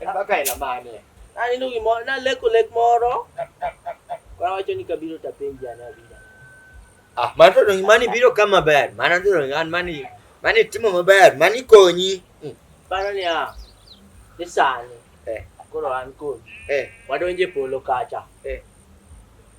En kaka ela mane? Naneno gimoro, naleko lek moro. Koro wacho ni kabiro to apenji ane abiro. Ah, mano to donge mani biro ka maber. Mano to donge an mani mani timo maber, mani konyi. Mm. Paro ni ah, ni sani. Eh. Koro an kodi. Eh. Wadonje polo kacha. Eh.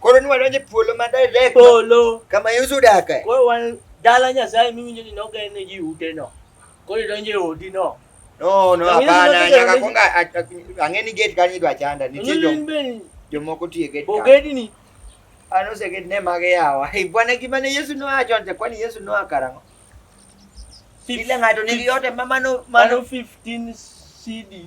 Koro ni wadonje polo ma direct. Polo. Kama Yesu dake. Koro wan dala Nyasaye miwinjo ni nogene ji ute no. Koro idonje odi no. No, no, hapana, nyaka konga ang'e ni gate kanyo idwa chanda. Nitie jo. Jomoko tiye gate. Bogedi ni. Ano se gate ne mage yawa. Bwana gima ne Yesu no acho nte kwani Yesu no akarango. Kila ng'ato nigi yote ma mano mano 15 CD.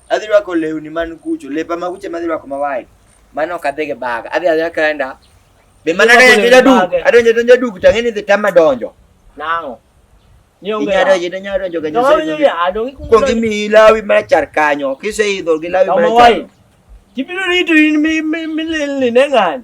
Adhi rwako lewni man kucho, lepa ma kucho madhi rwako ma wide. Mano ok adhi gi bag. Adhi adhi kenda. Be mana Irwako adonjo lewni jaduk, mage? adonjo donjo duk tang'e ni dhi tama donjo. Nang'o? Ni onge. Inyalo donjo, inyalo donjo ga Donge nyoso. ni adonge kuongo. Kuongi mi lawi mar char kanyo, kiseidho gi lawi mar Kama char. wai. Kibiro rito in mi mi mi lilni ne ng'ani.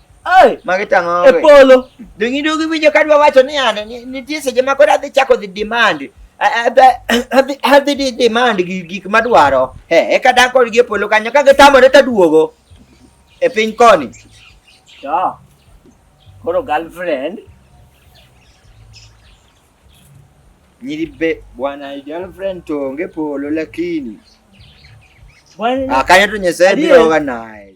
Ai, magi tang'o. E polo. Dongi dogi winjo kadwa wacho ni ane nitie seche ma koro adhi chako dhi demand. Adhi adhi di demand gi gik madwaro. Eh, eka dak kodgi e polo kanyo ka gitamore to aduogo. E piny koni. Ja. Koro girlfriend. Nyiri be bwana girlfriend to onge polo lakini. Bwana. Ah, kanyo to Nyasaye biro ga naye.